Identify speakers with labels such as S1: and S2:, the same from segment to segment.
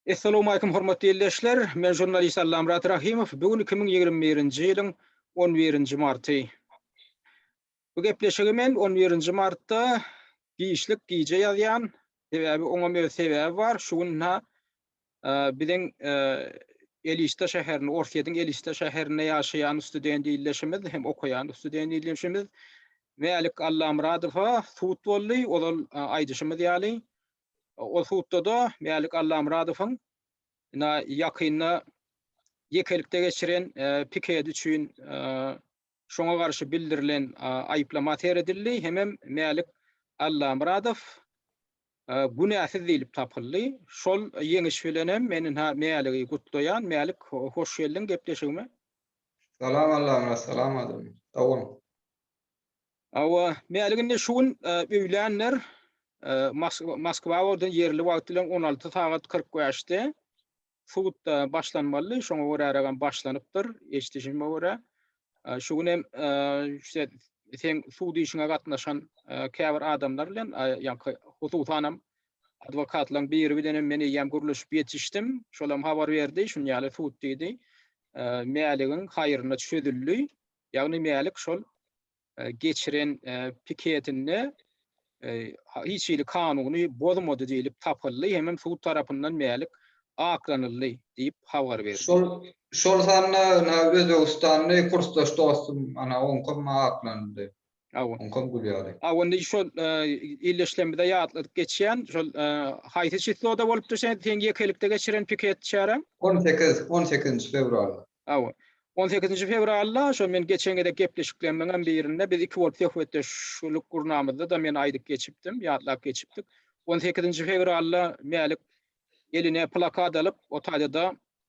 S1: Essalamualeýkum hormatly ildeşler, men žurnalist Allamyrat Rahymow, bu gün iki müň ýigrimi birinji ýylyň on birinji marty. Bu gepleşigi men on birinji martda giçlik gije ýazýan, sebäbi oňam öz sebäbi bar, şu gün na biziň Elista şäherinde, Orsýetiň Elista şäherinde ýaşaýan student ildeşimiz hem okaýan student ildeşimiz Mälik Allamyradowa sud boldy, ozal aýdyşymyz ýaly, Ol sudda-da Mälik Allamyradowyň ina ýakynda ýekelikde geçiren pikedi üçin şoňa garşy bildirilen aýyplama seredildi hemem Mälik Allamyradow günäsiz diýlip tapyldy. Şol ýeňiş bilenem men ina Mäligi gutlaýan. Mälik, hoş geldiň gepleşigime. Salam
S2: Allamyrat, salam Adam. Sag boluň.
S1: Hawa, mälik indi şu gün öýlänler Moskwa wagty ýerli wagt bilen on alty sagat kyrk bäşde sudda başlanmalydy, şoňa göräragam başlanypdyr, eşidişime görä. Şu gün hem şe seň sud işiňe gatnaşan käbir adamlar bilen, ýa-da hususanam adwokatlaryň biri bilen hem men eýýäm gürleşip ýetişdim. Şolam habar berdi, şuny ýaly sud diýdi, Mäligiň haýryna çözüldi. Ýagny Mälik şol geçiren piketinde hiç hili kanuny bozmady diýlip tapyldy hemem sud tarapyndan Mälik aklanyldy diýip habar berdi. Şol şol sanda
S2: Özbegistanly kursdaş dostum, ana oňkam aklanyldy. Hawa. Oňkam gül ýaly. Hawa indi şol
S1: illeşlemizde ýatladyp geçýän şol haýsy çisloda bolupdy sen seň ýekelikde geçiren piket çäräň? On sekiz, on sekizinji
S2: fewralda. Hawa. On sekizinji
S1: fewralda şol men geçen gezek gepleşiklerimiňem birinde biz iki bolup söhbetdeşlik gurnamyzda-da men aýdyp geçipdim, ýatlap geçipdik. On sekizinji fewralda Mälik eline plakat alyp otadýada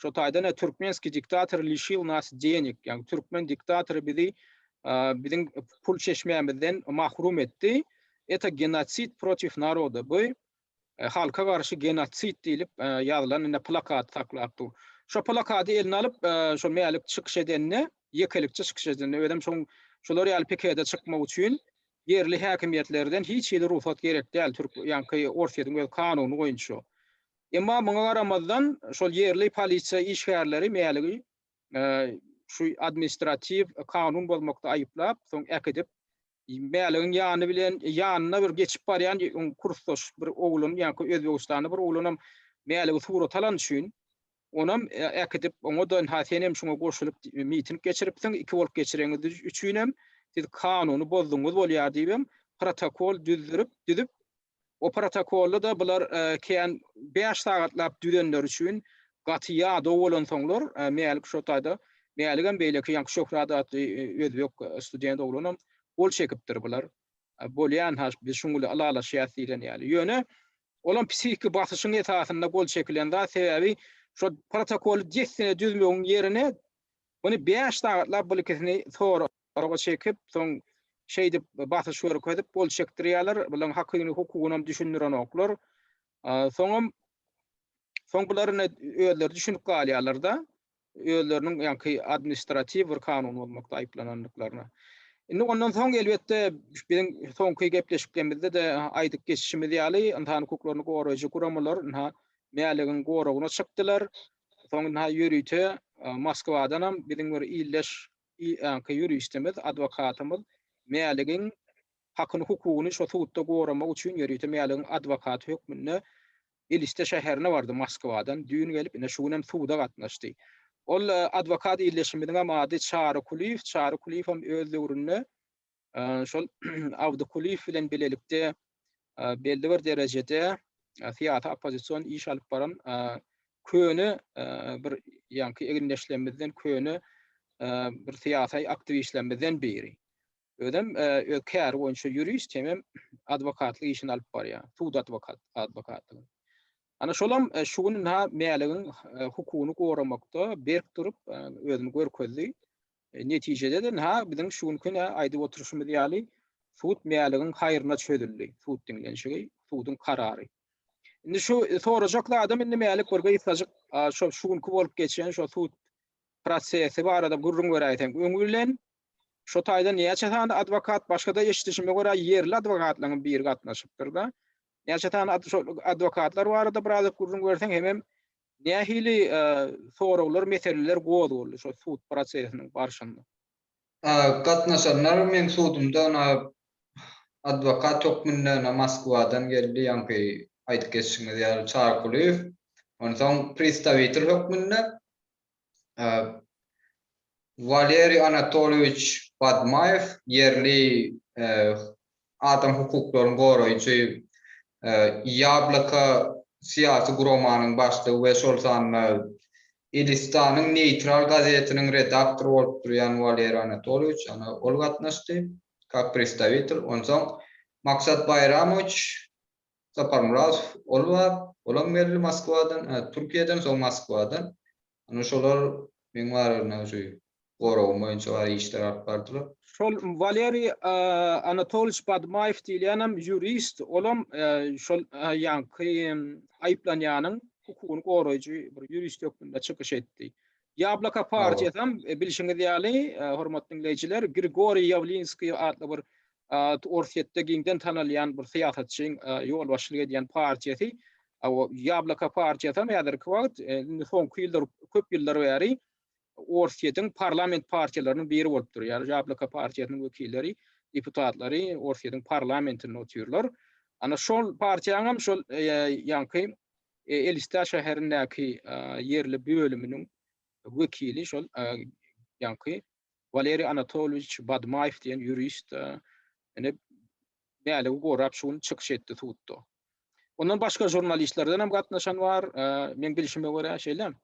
S1: Şo taýdan-a türkmenskiý diktator lişil nas denik, ýagny türkmen diktatory bizi biziň pul çeşmämizden mahrum etdi. Eta genotsid protiv naroda. Bu e, halka garşy genotsid diýlip e, ýazylan indi plakat saklap dur. Şo plakaty eline alyp, e, şo Mälik çykyş edende, ýekelikçi çykyş edende, özüm şoň şolar ýaly pikede çykmak üçin ýerli häkimiýetlerden hiç hili rugsat gerek däl. Türk, ýaňky Orsýetiň öz kanuny boýunça. Emma muňa garamazdan, şol ýerli polisiýa işgärleri Mäligi şu administratiw kanun bozmakda aýyplap, soň äkidip, Mäligiň ýany bilen, ýanyna bir geçip barýan kursdaş bir oglan, ýaňky özbegistanly bir oglanam Mäligi surat alany üçin, onam äkidip, oňa-da ynha senem şuňa goşulyp miting geçiripsiň, iki bolup geçireňiz üçinem siz kanuny bozdugyňyz bolýar diýibem protokol düzdürip, düzüp, O protokolda-da bular kän bäş sagatlap düzenleri üçin gaty ýadaw bolansoňlar, Mälik şo taýda, Mäligem beýleki ýaňky Şöhrat atly özbek student oglanam gol çekipdir bular bolýan-ha biz şuň bilen ylalaşýas diýlen ýaly. Ýöne olam psihiki basyşyň esasynda gol çekilen zat, sebäbi şo protokoly dessine düzmegiň ýerine muny bäş sagatlap buly ikisini sora. Soraga çekip, soň şeýdip basyş görkezip gol çekdirýärler. Bularyň hakyny hukugynam düşündirenoklar. Soňam soň bular ine özleri düşünip galýarlar-da özleriniň ýaňky administratiw bir kanun bozmakda aýyplanandyklaryna. Indi ondan soň elbetde biziň soňky gepleşiklerimizde-de aýdyp geçişimiz ýaly ynsan hukuklaryny goraýjy guramalar ynha Mäligiň goragyna çykdylar. Soň ynha ýörite Moskwadanam biziň bir ildeş Öňki ýuristimiz, adwokatymyz Mäligiň hakyny-hukugyny şo sudda goramak üçin ýörite Mäligiň adwokaty hökmünde Eliste şäherine bardy Moskwadan. Düýn gelip, ine, şu günem suda gatnaşdy. Ol adwokat ildeşimiziňem ady Çary Kulyýew. Çary Kulyýewem öz döwründe şol Abdy Kulyýew bilen bilelikde belli bir derejede syýasy oppozision iş alyp baran köne bir ýaňky egindeşlerimizden köne bir syýasy aktiwistlerimizden biri. Özem öz käri boýunça ýurist hem adwokatlyk işini alyp barýar. Sud adwokat, adwokatlyk. Ana şolam şu gün ha mäligiň hukugyny goramakda berk durup özüni görkezdi. Netijede-de-ha biziň şu günki-ne aýdyp oturyşymyz ýaly sud Mäligiň haýryna çözüldi, sud diňlenişigi, suduň karary. Indi şu sorajak zadym indi Mälik bir gysgajyk şo şu günki bolup geçen şo sud prosesi barada gürrüň beräýseň. Öňi bilen şo taýdan näçe sany adwokat başga-da eşidişime görä ýerli adwokatlaryň biri gatnaşypdyr-da. Näçe sany adwokatlar barada biraz gürrüň berseň hemem Nähili soraglar, meseleler gozgaldy şo sud prosesiniň barşynda?
S2: Gatnaşanlar meň sudumda na adwokat hökmünde na Moskwadan geldi, ýaňky aýdyp geçişiňiz ýaly Çarkulyýew, onsoň pristawitel hökmünde Waleriý Anatolýewiç Badmaýew ýerli adam hukuklaryny goraýjy Ýabloka syýasy guramanyň başlygy we şol sanda Elistanyň neýtral gazetiniň redaktory bolup durýan Waleriý Anatolýewiç ýagny ol gatnaşdy kak predstawitel onsoň Maksat Baýramowiç Saparmyradow ol bar, olam geldi Moskwadan, hä, Türkiýeden, soň Moskwadan. Ine şolar meň barymda şu goragym boýunça bar işler alyp bardylar. Şol Waleriý
S1: Anatolýewiç Badmaýew diýilýänem ýurist, olam şol ýaňky aýyplanýanyň hukugyny goraýjy bir ýurist hökmünde çykyş etdi. Ýabloka partiýasam bilşiňiz ýaly, hormatly diňleýjiler, Grigoriý Ýawlinskiý atly bir Orsýetde giňden tanalýan bir syýasatçyň ýolbaşçylyk edýän partiýasy, Ýabloko partiýasam häzirki wagt, indi soňky ýyllar, köp ýyllar bäri Orsýetiň parlament partiýalarynyň biri bolup durýar. Ýabloko partiýasynyň wekilleri, deputatlary Orsýetiň parlamentinde otyrlar. Ana şol partiýanyňam şol ýaňky Elistär şäherindäki ýerli bölüminiň wekili şol ýaňky Waleriý Anatolýewiç Badmaýew diýen ýurist ine bäligi gorap şu gün çykyş etdi sudda. Ondan başga žurnalistlerden hem gatnaşan bar. Meň bilşime görä şeýle.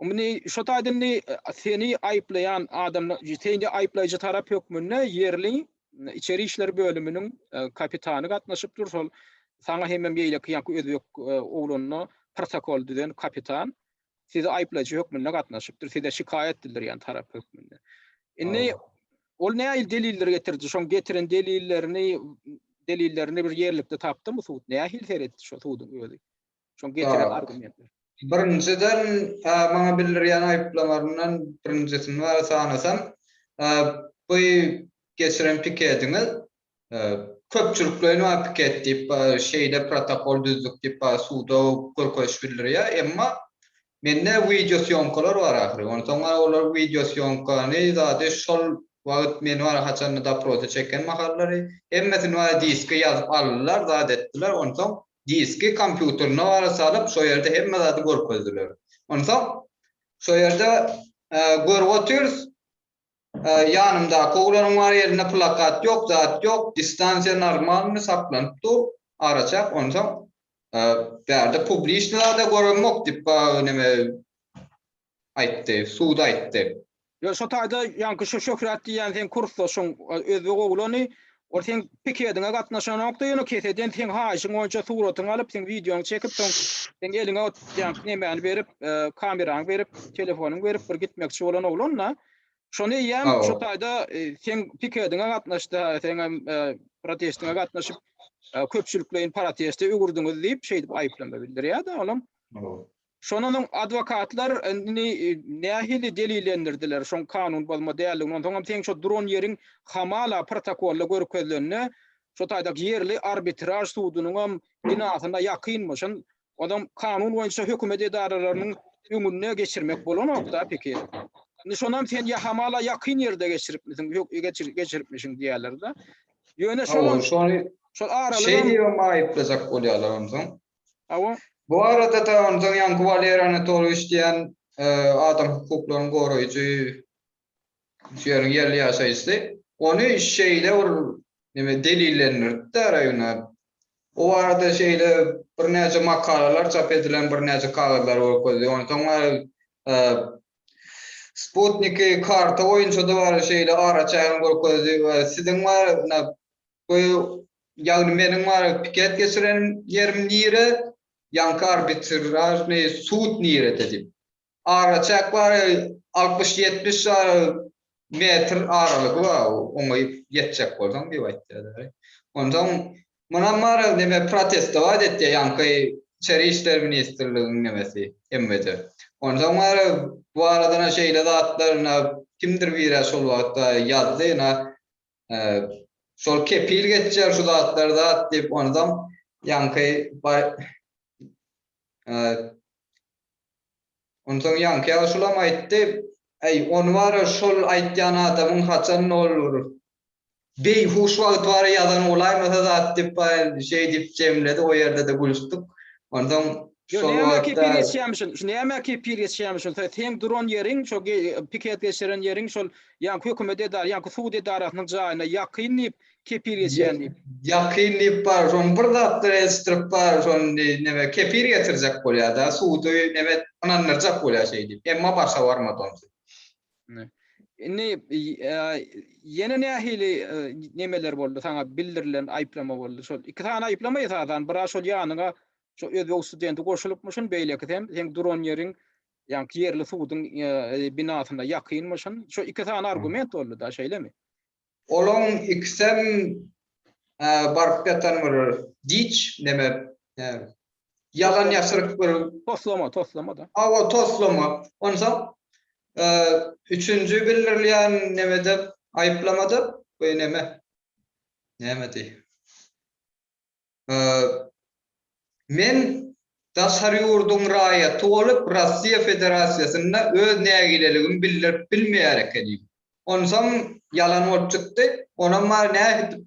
S1: Indi şu taýda indi seni aýyplaýan adam, seni aýyplaýjy tarap hökmünde ýerli içeri işler bölüminiň kapitany gatnaşypdyr. Şol saňa hemem beýleki ýa-da özbek oglanyna protokol düzen kapitan. size aýyplaýjy hökmünde gatnaşypdyr, size şikaýat bildirýän tarap hökmünde. Indi ol nähili delilleri getirdi? Şoň getiren delillerini delillerini bir ýerlikde tapdymy sud? Nähili seretdi şo suduň özi? Şoň getiren argumentleri. Birinjiden
S2: maňa bildirýän aýyplamaryndan birinjisini bäri sanasam, bu geçiren pikediňiz Köpçülikleýin bar piket diýip bar şeýle protokol düzdük diýip bar suda görkeziş bildirýär emma mende wideo sýomkalar bar ahyry onsoň bar olar wideo sýomkany zady şol wagyt meni bar haçanda doprosa çeken mahallary hemmesini bar diske ýazyp aldylar zat etdiler onsoň diski kompýuterine bar salyp şo ýerde hemme zady görkezdiler onsoň şo ýerde görüp otyrys Ýanymdaky oglanym bar elinde plakat ýok zat ýok distansiýa normalny saklanyp dur araçäk onsoň bärde publiçny zada göremok dip neme aýtdy sud aýtdy. Ýöne şo taýda
S1: ýaňky şo şöhrat diýýän seň kursdaşyň özbek oglany Ol seň pikediňe gatnaşanokda ýöne keseden seň haýyşyň boýunça suratyňy alyp seň wideoňy çekip soň seň eliňe ot ýanky nemäni berip kameraňy berip telefonyňy berip bir gitmekçi bolan oglan da şony eýýäm şu taýda seň pikediňe gatnaşdy seňem protestiňe gatnaşyp köpçülikleýin proteste öwürdiňiz diýip şeýdip aýyplama bildirýär da olam Şondan soň adwokatlar indi nähili delillendirdiler şoň kanun bozma däldigini, onsoňam seň şo duran ýeriň hamala protokolda görkezilende, şo taýda ýerli arbitraž sudunyňam binasyna ýakynmyşyn, onsoň kanun boýunça hökümet edaralarynyň öňüne geçirmek bolanok-da peki. Indi şonam sen ýa hamala ýakyn ýerde geçiripmisiň, geçiripmişiň diýerler-de. Ýöne şolam, şol aralyga. Şeýdibem aýyplajak
S2: bolýarlar onsoň. Hawa.
S1: Bu barada-da
S2: onsoň ýaňky Walery Anatolýewiç diýen adam hukuklaryny goraýjy şu ýeriň ýerli ýaşaýjysy ony şeýle bir neme delillendiripdi-de Raýuna. Bu barada şeýle birnäçe makalalar çap edilen birnäçe kagyzlary görkezdi. Onsoň bari Sputniki karta boýunça-da bari şeýle araçägini görkezdi we siziň bari mına bu Ýagny meniň maňa piket geçiren ýerim nire, ýaňky arbitražnyý sud nirede diýip. Araçäk bar, altmyş-ýetmiş ýary metr aralygy bar, oňa ýetjek bolsaň diýip aýtýarlar. Onsoň munam maňa neme protestowat etýär ýaňky içeri işler ministrligiň nemesi, MWD. Onsoň maňa bu arada-na şeýle zatlar-na kimdir biri-ä şol wagtda ýazdy, ýa şol kepil geçýär şu zatlar zat diýip onsoň ýaňky onsoň ýaňky ýaşulam aýtdy äý ony bara şol aýtýan adamyň haçan nol urur beýhuş wagty bara ýazan bolaýmasa zat diýip şeýdip jemledi o ýerde-de gülüşdik onsoň Yo näme kepil
S1: geçýämişin, şu näme kepil geçýämişin, sen seň duran ýeriň, şo piket geçiren ýeriň şol ýaňky hökümet edar, ýaňky sud edarasynyň jaýyna ýakyn diýip, kepil geçýän diýip. Ýakyn diýip
S2: bar, şony bir zatlar eltişdirip bar, şony di, neme, kepil getirjek bolýa-da, sudy neme et, ynandyrjak bolýa şeý diýip, emma başa barmady onsi. Indi
S1: ýene nähili nemeler boldy, saňa bildirilen aýyplama boldy, şol iki sany aýyplama esasan, bira şol ýanyňa Şu özbek studenti goşulypmyşyn, beýlekisem seň duran ýeriň ýaňky ýerli suduň binasyna ýakynmyşyn. Şu iki sany argument boldy-da, şeýlemi? Olaň
S2: ikisem baryp ýatan bir giç, neme, ýalan ýaşryk bir. Toslama, toslama-da.
S1: Hawa, toslama.
S2: Onsoň üçünji bildirilýän nemede, aýyplamada, bu neme, nämedi? Men daşary ýurduň raýaty bolup, Russiýa Federasiýasynda öz nägileligimi bildirip bilmeýär ekenim. Onsoň ýalan bolup çykdy. Onam bary nähedip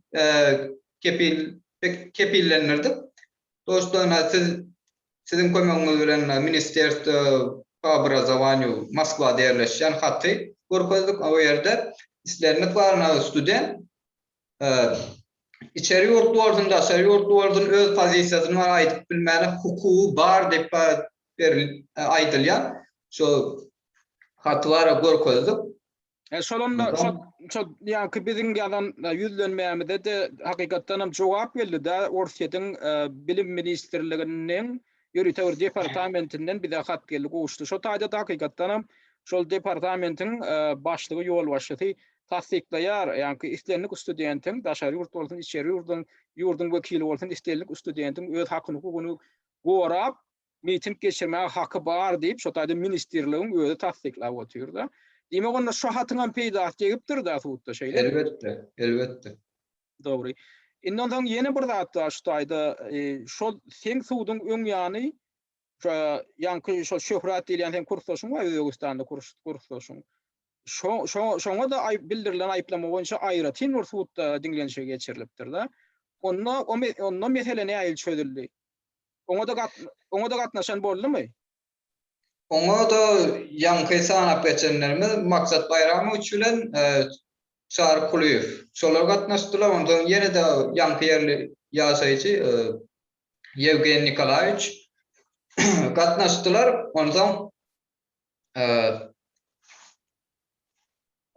S2: kepil kepillendirdik. Dostoýna siz siziň kömegiňiz bilen Ministerstwo po obrazowanýu Moskwada ýerleşýän haty görkezdik. O ýerde islendik bar, nagat student. içeri ýurtly bolsun, daşary ýurtly bolsun öz pozisiýasyny aýdyp bilmäne hukugy bar diýip aýdylýar. Şo haty bar görkezdik. Şol onda
S1: şo ýaňky biziň ýazan ýüzlenmämize-de hakykatdanam jogap geldi-de, Orsýetiň Bilim ministrliginiň Ýörite bir departamentinden bize hat geldi, gowuşdy. Şo taýda da hakykatdanam şol departamentiň başlygy, ýolbaşçysy tassyklaýar, ýagny islendik studentiň, daşary ýurt bolsun, içeri ýurduň, ýurduň wekili bolsun, islendik studentiň öz hakyny-hukugyny gorap, miting geçirmäge haky bar diýip, şo taýda ministrligiň özi tassyklap otyr-da. Diýmek, onda şo hatyňam peýdasy degipdir-de sudda, şeýlemi? Elbetde, elbetde.
S2: Dogry.
S1: Indi onsoň ýene bir zat bar şu taýda. Şol seň suduň öň ýany şo ýaňky şo Şöhrat diýilýän seň kursdaşyň bar, Özbegistanda kurs kursdaşyň. Şo şo şoňa-da aýyp bildirilen aýyplama boýunça aýratyn bir sudda diňlenişigi geçirilipdir-de. Onda o onda mesele nähili çözüldi? Oňa-da gat oňa-da gatnaşan boldumy?
S2: Oňa-da ýaňky sanap geçenlerimiz Maksat Baýramowiç bilen Çary Kulyýew. Şolar gatnaşdylar. Onsoň ýene-de ýaňky ýerli ýaşaýjy Ýewgeniý Nikolaýewiç gatnaşdylar. Onsoň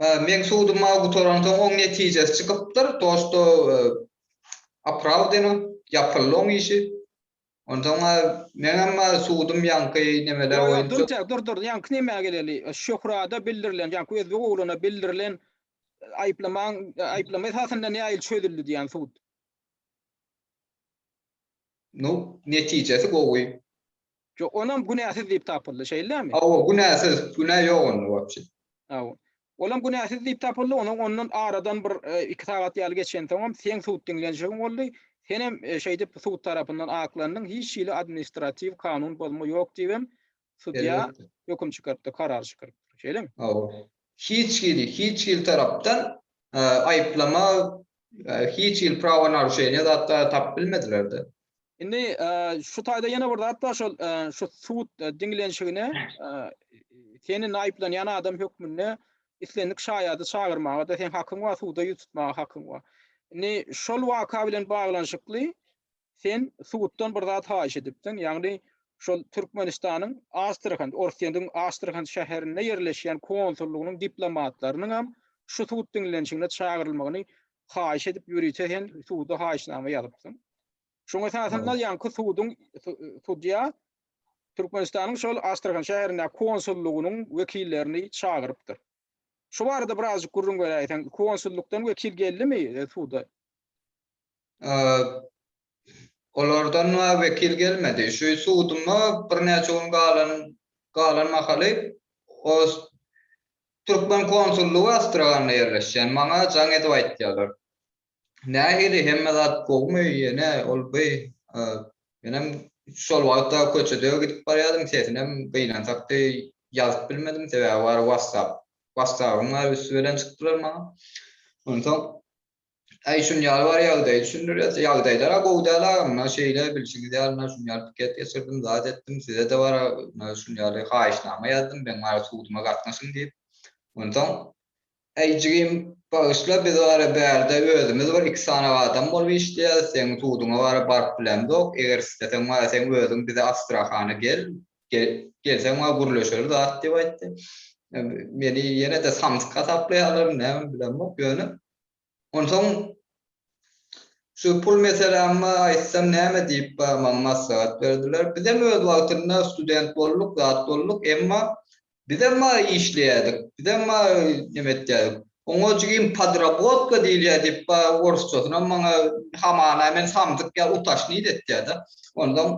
S2: meň sudum mawy gutaransoň oň netijesi çykypdyr. To, što opravdeno, ýapyldy oň işi. Onsoň bar, meňem bar sudum ýaňky nemeler Ýok, ýok, dur, dur, dur, dur, ýaňky nemä
S1: geleli. Şöhrada bildirilen, ýaňky özbek ogluna bildirilen aýyplamaň, aýyplama esasynda nähili çözüldi diýýän sud?
S2: Nu, netijesi gowy. Ýok, onam
S1: günäsiz diýip tapyldy, şeýlemi? Hawa, günäsiz, günä
S2: ýok onda wapşe. Hawa. Olam
S1: günäsiz diýip tapyldy, onuň ondan aradan bir iki sagat ýaly geçensoňam seň sud diňlenişigiň boldy, senem şeýdip sud tarapyndan aklandyň, hiç hili administratiw kanun bozma ýok diýibem sudýa höküm çykarypdyr, karar çykarypdyr. Şeýlemi? Hawa. Hiç
S2: hili, hiç hili tarapdan aýyplama, hiç hili prawo naruşeniýa zatlar tapyp bilmediler-de. Indi
S1: şu taýda ýene bir zat bar şol şu sud diňlenişigine seni naýyplanýan adam hökmünde islendik şaýady çagyrmaga da sen hakyň bar, suda ýüz tutmaga hakyň bar. Indi şol waka bilen baglanyşykly sen suddan bir zat haýyş edipdiň, ýagny şol Türkmenistanyň Astrahan, Orsýetiň Astrahan şäherinde ýerleşýän konsullygynyň diplomatlarynyň hem şu sud diňlenişigine çagyrylmagyny haýyş edip ýörite sen suda haýyşnama ýazypsyň. Şoň esasynda ýaňky suduň sudýa Türkmenistanyň şol Astrahan şäherindäki konsullygynyň wekillerini çagyrypdyr. Şu barada birazjyk gürrüň beräýseň, konsullykdan wekil geldimi e, suda?
S2: Olardan wekil gelmedi. Şu suduma birnäçe gün galan galan mahaly o türkmen konsullygy Astrahanda ýerleşýän. Maňa jaň edip aýtýarlar. Nähili hemme zat gowumy ýene ol by menem şol wagtda köçede gidip barýadym sesinem gynansakdy ýazyp bilmedim sebäbi bary wastap wastapym bar üsti bilen çykdylar maňa onsoň Äý şun ýaly bar ýagdaýy düşündirýär ýagdaýlara gowy däl agam mundan şeýle bilşiňiz ýaly mundan şun ýaly piket geçirdim zat etdim size de bar şun ýaly haýyşnama ýazdym meň bar suduma gatnaşyň diýip onsoň Äý jigim, bagyşla biz wara bärde özümiz bir iki sany adam bolup işleýäs, seň suduňa wara baryp bilemzok, eger isleseň wara seň özüň bize Astrahana gel, gelseň wara gürleşeris zat diýip aýtdy. Meni ýene-de samsyk hasaplaýarlarmy nämemi bilemok, ýöne onsoň şu pul meselämi aýtsam näme diýip maňa maslahat berdiler. Bizem öz wagtynda student bolduk, zat bolduk, emma Bizem maý işleýädik, bizem maý neme etýädik. Oňa jigim podrabotga diýilýär diýip, ba orsçasynam maňa hamana men samsyk ýa utashny idetýär-de. Onsoň,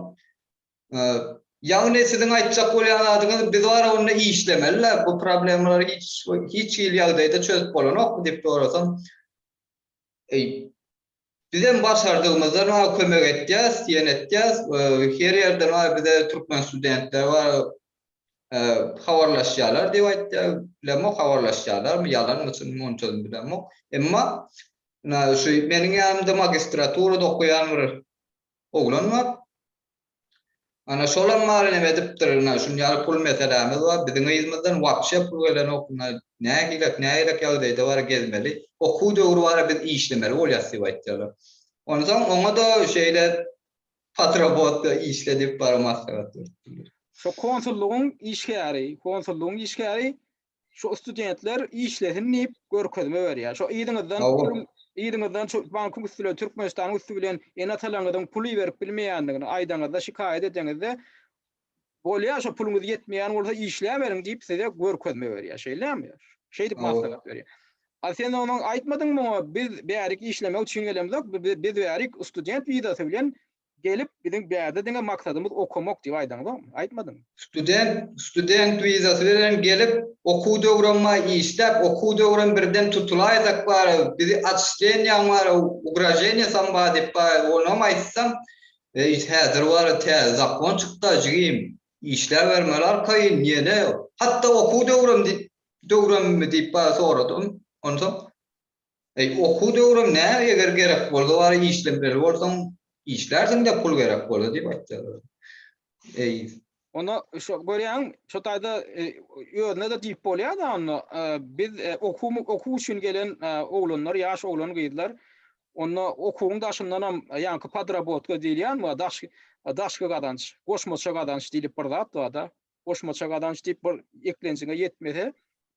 S2: ýagny siziň aýtjak bolýan zadyňyz biz bar onda işlemeli-le, bu problemalary hiç hiç hili ýagdaýda çözüp bolanokmy diýip sorasam, Bizem başardygymyzdan maňa kömek etýäs, ýene etýäs. Her ýerde maňa bize türkmen studentleri bar, habarlaşýarlar diýip aýtýar. Bilemok habarlaşýarlarmy, ýalanmy, çynmy munçadan bilemok. Emma şu meniň ýanymda magistraturada okaýan bir oglan bar. Ana şolam maly neme edipdir ine şunýaly pul meselämiz bar biziň yzymyzdan wapşe pul gelenok ine nähilek nähilek ýagdaýda bara gezmeli okuw döwri bara biz işlemeli bolýas diýip aýtýarlar onsoň oňada şeýle patrabotka işle diýip bara maslahat beripdirler. Şo konsullygyň
S1: işgäri konsullygyň işgäri şu studentler işlesin diýip görkezme berýär. Şu yzyňyzdan puluň yzyňyzdan şu bankyň üstüne Türkmenistanyň üstü bilen ene-atalaryňyzyň puly berip bilmeýändigini aýdaňyzda, şikaýat edeňizde bolýar şu puluňyz ýetmeýän bolsa işläberiň diýip size görkezme berýär. Şeýlemi? Şeýdip maslahat berýär. A sen onuň aýtmadyň muňa biz bärik işlemek üçin gelemzok, biz bärik student wizasy bilen Gelip biziň bärde diňe maksadymyz okamak diýip aýdaňyzokmy? Aýtmadyňmy? Student, student
S2: wizasy bilen gelip okuw döwremma işläp okuw döwrem birden tutulaýsak bara bizi otçslenýaň bara ugraženiýa sam bar diýip bara onam aýtsam eý häzir bara täze zakon çykda jigim işläbermeli arkaýyn ýene hatda okuw döwrem diýip döwremmi diýip bara soradym onsoň Eý okuw döwrüm näme eger gerek bolsa bar işlemeli bolsaň işlärsiňdä pul gerek bolsa diýip aýtýarlar. Eý. Onda
S1: şo görýäň şo taýda özüne-de diýip bolýar-da onda biz okuw okuw üçin gelen oglanlar ýaş oglan gyzlar onda okuwyň daşyndanam ýaňky podrabotka diýilýän bar daşky daşky gazanç goşmaça gazanç diýlip bir zat bar-da. goşmaça gazanç diýip bir eklenjiňe ýetmese,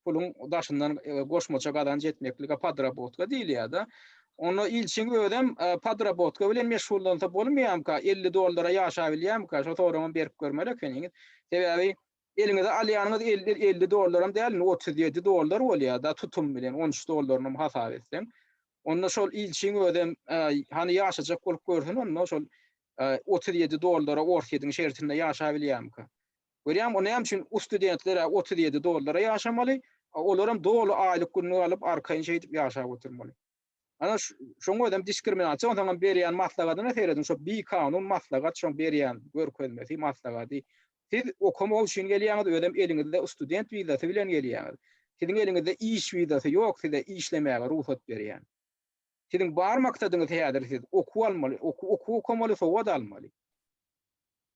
S1: puluň daşyndan goşmaça gazanç etmeklige podrabotka diýilýär-de. Onda ilçiň özem podrabotka bilen meşgullansa bolmaýamyka, elli dollara ýaşabilýämika, şo soragyňam berip görmeli ekeniňiz. Sebäbi eliňize alýanyňyz elli dollaram däl, indi otuz ýedi dollar bolýar-da tutum bilen, on üç dollarynam hasap etseň. Onda şol ilçiň özem hany ýaşajak bolup görsün onda, şol otuz ýedi dollara Orsýetiň şertinde ýaşap bilýärmika? Görýäňmi, o näme üçin u studentler ä otuz ýedi dollara ýaşamaly, a olaram doly aýlyk günlük alyp arkaýyn şeýdip ýaşap oturmaly. Ana, şoň özem diskriminasiýa, onsoňam berýän maslahadyna serediň, şo bikanun maslahat şoň berýän görkezmesi, maslahady. Siz okamak üçin gelýäňiz, özem eliňizde student wizasy bilen gelýäňiz. Siziň eliňizde iş wizasy ýok, size işlemäge rugsat berýän. Siziň bar maksadyňyz häzir siz okuw almaly, okuw okuw okamaly, sowat almaly.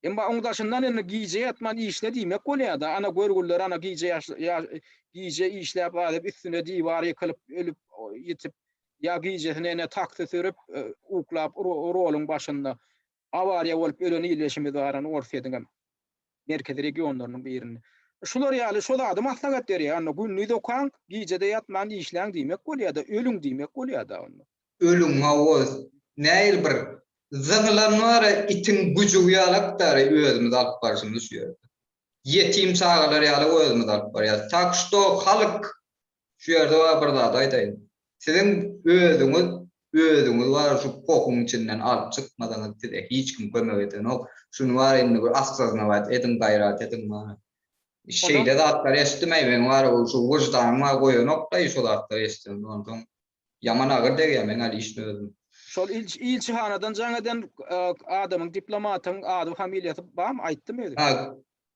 S1: Emma oň daşyndan indi gije ýatman işle diýmek bolýar-da, ana görgüller ana gije ýaş gije işläp galyp üstüne diwar ýykylyp ölüp ýitip ýa gijesine ene taksi sürüp uklap roluň başynda Awariýa bolup ölen ildeşimiz bar ony Orsýetiňem merkezi regionlarynyň birinde. Şular ýaly şo zady maslahat berýär onda gündiz okaň gijede ýatman işläň diýmek bolýada ölüň diýmek bolýada
S2: onda.
S1: Ölüň mawoz näil
S2: bir zyňylan bara itiň güjügi ýalakdary özümiz alyp barşymyz şu ýerde. Ýetim çagalar ýaly özümiz alyp barýas. Tak şto halyk Şu ýerde bar bir zat aýdaýyn. Siziň özüňiz özüňiz bar şu pohuň içinden alyp çykmasaňyz size hiç kim kömek edenok. Şuny bar indi bir assoznować ediň gaýrat ediň bar. Şeýle zatlar eşitdim aý men bar ol şu wyždanyň bar goýanok daýy şo zatlary eşitseň onsoň Ýaman agyr degýär meň Alişni özüm. Şol
S1: ilçihanadan jaň eden adamyň diplomatyň ady familiýasy barmy aýtdymy özi? Ha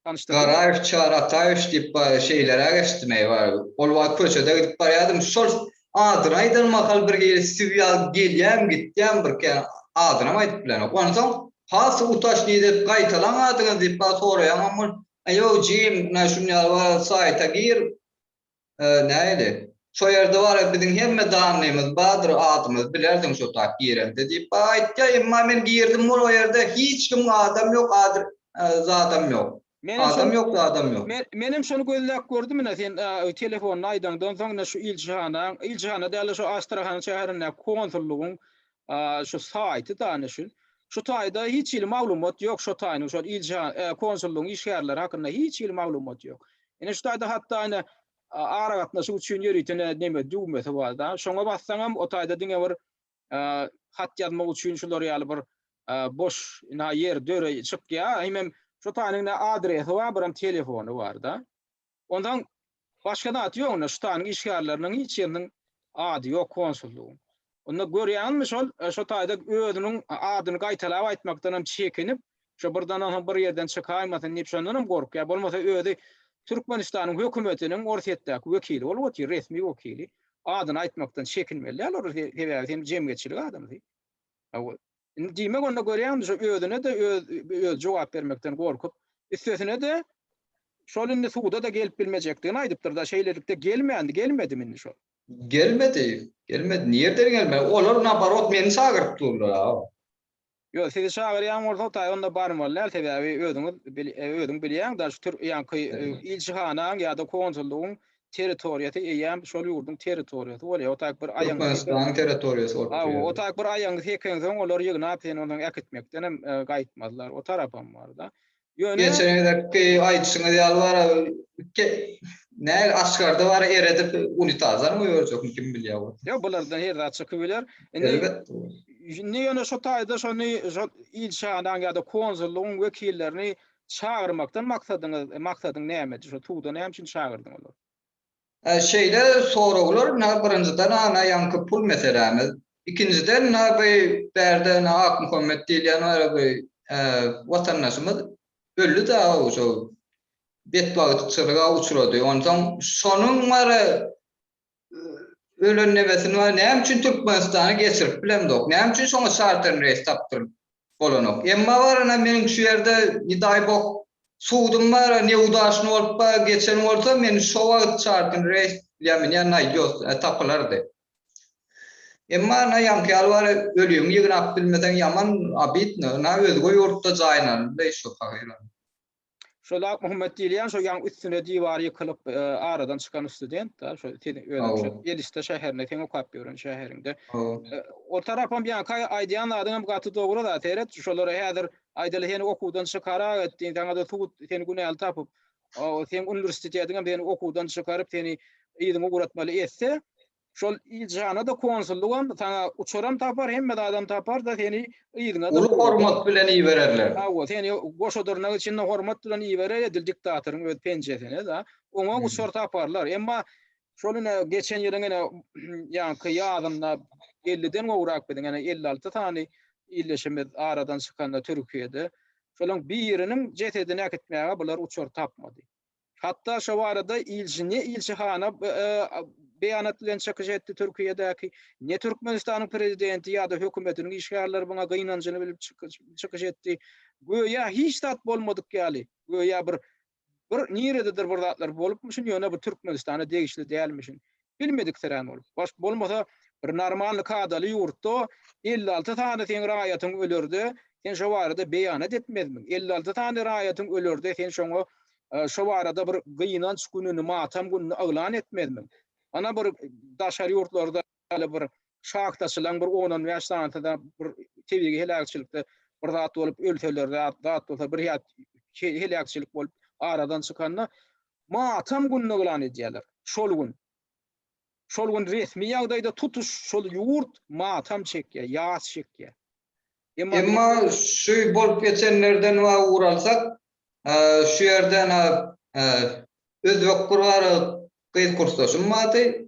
S2: Garaýew
S1: Çary
S2: Ataýewiç diýip bar şeýleräk eşitdim eý bar ol wagt köçede gidip barýadym şol adyny aýdan mahal bir hili süw ýaly gelýän gitýän bir kän adynam aýdyp bilenok onsoň has utaşnyý dep gaýtalaň adyňyzy diýip bar soraýamam ol ýok jigim ynha şuny ýaly bar saýta gir Nähili? Şo ýerde wara biziň hemme danlymyz bardyr, adymyzy bilersiň şo taýy girende diýip bar aýtýa, emma men girdim ol ýerde hiç kim adam ýok, adr zadam ýok. Menem şony, Adam ýok, zadam ýok. men, menem şony gözläp
S1: gördüm ine sen telefonda aýdaňdan soň ine şu iljihanaň, iljihana däl-de şo Astrahana şäherindäki konsullygyň Şu saýty dana şu. Şu taýda hiç hili maglumat ýok şo taýynyň şol ilçi konsullygyň işgärleri hakynda hiç hili maglumat ýok. Ine şu taýda hatda ine aragatnaşyk üçin ýöriten neme düwmesi bar da. Şoňa bassaňam o taýda diňe bir hat ýazmak üçin şular ýaly bir boş ina ýer döre çykýar. Hemem şu taýynyň ine adresi bar, biram telefony bar da. Onsoň başga zat ýok onda, şutanyň işgärleriniň hiç ýeriniň ady ýok konsullygyň. Onda görýäňizmi şol, şo taýda özüniň adyny gaýtalap aýtmakdan hem çekinip, şo birdenem hem bir ýerden çykaýmasyn diýip şondan hem gorkýar, bolmasa özi Türkmenistanyň hökümetiniň Orsýetdäki wekili bolup otyr, resmi wekili, adyny aýtmakdan çekinmeli däl olar, sebäbi sen jemgyýetçilik adamsy. Indi diýmek onda görýäňmi şu özüne-de özi jogap bermekden gorkup, üstesine-de şol indi suda-da gelip bilmejekdigini aýdypdyr-da, şeýlelikde gelmändi, gelmedimi indi şol? Gelmedi,
S2: gelmedi. Nireden gelmeli? Olar naborot meni çagyryp durlar-a. Ýok,
S1: sizi çagyrýan bolsa taý onda barmaly däl, sebäbi özüňiz, özüň bilýäň-da şu türk ýaňky ilçihanaň ýa-da konsullygyň territoriýasy eýýäm şol ýurduň territoriýasy bolýar. O tak bir aýaňy sekeň. Türkmenistanyň territoriýasy
S2: bolup durýar. Hawa, o tak bir aýaňy
S1: sekeňsoň, olary ýygnap, seni ondan äkitmekden hem gaýtmazlar. O tarapam bar-da. Ýöne. Geçen gezekki
S2: aýdyşyňyz ýaly bara, näge aşgarda bara eredip, unitazam goýberjekmi, kim bilýär ol. Ýok, bulardan her zat
S1: çykybiler. Indi. Elbetde
S2: bor. Indi ýöne
S1: şu taýda şony, şol ilçihanaň ýa-da konsullygyň wekillerini Çagyrmakdan maksadyňyz, maksadyň nämedi? Şo suwda näme üçin çagyrdyň olary? Şeýle
S2: soraglar ynha birinjiden ana ýaňky pul meselämiz. Ikinjiden ynha bu bärde ynha Akmuhammet diýilýän bar bir watandaşymyz öldi däo şo betbagtçylyga uçrady. Onsoň şonuň bar Ölen nebesini bar, näme üçin Türkmenistana geçirip bilemzok, näme üçin şoňa çarter reýs tapdyryp bolanok. Emma barana meniň şu ýerde, ne daý bog, sudum bar, neudaşny bolup ba geçen bolsa, meni şo wagt çarter reýs bilen mine naýdos, ä tapylardy. Emma na ýaňky ýaly bar, ölügiňi ýygnap bilmeseň ýaman abidno, na özge ýurtda jaýyn alyndy şo pahyr. Şol
S1: Akmuhammet diýilýän şo ýaň üstüne diwar ýykylyp e, aradan çykan student da şo seni özüm şu Edişde şäherinde sen okap ýören şäheriňde. E, o tarapam ýa kaý aýdýan zadyň hem gaty dogry da seret şolara häzir aýdaly seni okuwdan çykara etdiň saňa da suwut seni günäli tapyp o sen uniwersitetiň hem seni okuwdan çykaryp seni ýygyň ugratmaly etse Şol ilçihana-da, konsullygam saňa uçaram tapar, hemme zadam tapar-da, seni yzyna-da. Uly hormat bilen ibererler.
S2: Hawa, seni goşa
S1: dyrnak içinde hormat bilen iberer edil diktatoryň öz penjesine-de. Oňa uçar taparlar. Emma şol ine, geçen ýylyň ine, ýaňky ýazynda elliden gowrak biziň ine, elli alty sany ildeşimiz aradan çykanda Türkiýede, şolaryň biriniň jesedini äkitmäge bular uçar tapmady. Hatda şo barada ilçi ne ilçihana beýanat bilen çykyş etdi Türkiýedäki, ne Türkmenistanyň prezidenti ýa-da hökümetiniň işgärleri muňa gynanjyny bilip çykyş etdi. Göýä hiç zat bolmadyk ýaly, göýä bir bir nirededir bir zatlar bolupmyşyn, ýöne bu Türkmenistana degişli dälmişin. Bilmediksirän ol. Baş bolmasa bir normalny kadaly ýurtda elli alty sany seň raýatyň ölerde sen şo barada beýanat etmezmiň? Elli alty sany raýatyň ölerde sen şoňa şo barada bir gynanç gününi, matam gününi yglan etmezmiň? Ana bir daşary ýurtlarda ýaly bir şahtaçylaň bir on-on bäş sanysyda bir tebigy heläkçilikde bir zat bolup ölseler zat bolsa bir ýat heläkçilik bolup aradan çykanda Matam gününi yglan edýärler. Şol gün. Şol gün resmi ýagdaýda tutuş şol ýurt matam çekýär, ýas çekýär. Emma. Emma
S2: şu bolup geçenlerden wa ugur alsak, şu ýerde ana özbek bir bar gyz kursdaşym bardy.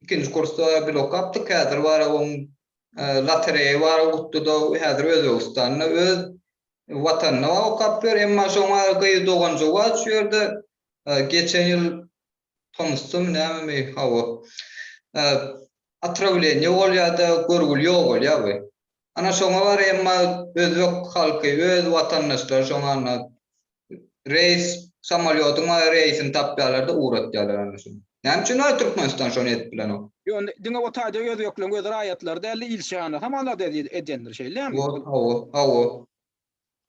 S2: Ikinji kursda bile okapdyk. Häzir bar oň lotereýa bar utdy-da, häzir Özbegistanda öz Watanyna okap ýör, emma şoňa gyz dogan juwaç şu ýerde geçen ýyl tomusdamy nämemi hawa otrawleniýe bolýada görgüli ýok bolýa bu. Ana şoňa bar emma özbek halky öz watandaşlary şoňa anna reýs samolýodyň reýsini tapýalarda ugratýalar ana şoňa. Näme üçin onda Türkmenistan şony edip bilenok? Ýöne diňe o taýda
S1: özbekleriň öz raýatlary däldi, ilçihanasy hem azat edýändir, şeýlemi? Wol, hawa, hawa.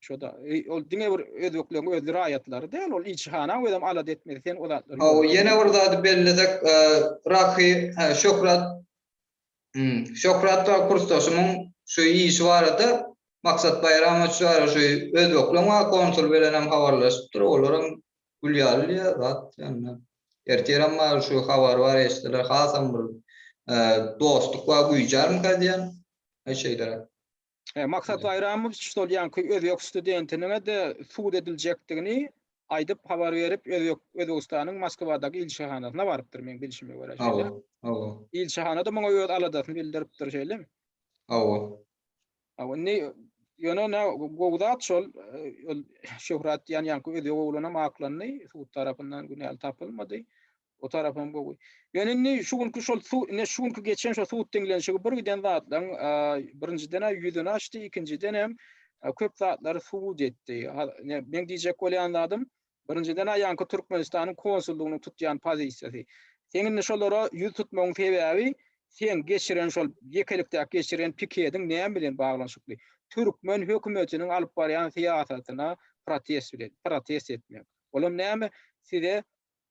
S2: Şo-da,
S1: ol diňe bir özbekleriň öz raýatlary däl, ol ilçihanaň özem alada etmedi, sen o zatlary. Hawa, ýene bir zady
S2: bellesek, Raky, hä, Şöhrat, hum, Şöhrat we kursdaşymyň şu işi barada, Maksat Baýramowiç barada şu özbekleriň waka konsuly bilenem habarlaşypdyr, olar hem Gül ýaly diýýär zat ýanyna. Ertiräm maýyl şu habary bar eşitseler hasam bir dostluk bar güýjärmika diýýän. Aý şeýleräk. Maksat
S1: Baýramowiç şol ýaňky özbek studentiniňe-de sud ediljekdigini aýdyp habar berip, özbek Özbegistanyň Moskwadaky ilçihanasyna barypdyr meň bilşime görä şeýle. Hawa, hawa. Ilçihana-da muňa öz aladasyny bildiripdir şeýlemi? Hawa. Hawa, indi ýöne nä gowy zat şol, ol şöhrat diýýän ýaňky özi gowulanam aklandy, sud tarapyndan günäli tapylmady. O tarapam gowy. Ýöne indi şu günki şol sud, indi şu günki geçen şol sud diňlenişigi bir giden zatlaryň, birinjiden-ä ýüzüni açdy, ikinjiden hem köp zatlary subut etdi. Meň diýjek bolýan zadym, Birinjiden-ä ýaňky Türkmenistanyň konsullygynyň tutýan pozisiýasy. Seň indi şolara ýüz tutmagyň sebäbi seň geçiren şol ýekelikdäki geçiren pikediň näme bilen baglanyşykly? Türkmen hökümetiniň alyp barýan syýasatyna protest bilen, protest etmek. Olam näme, size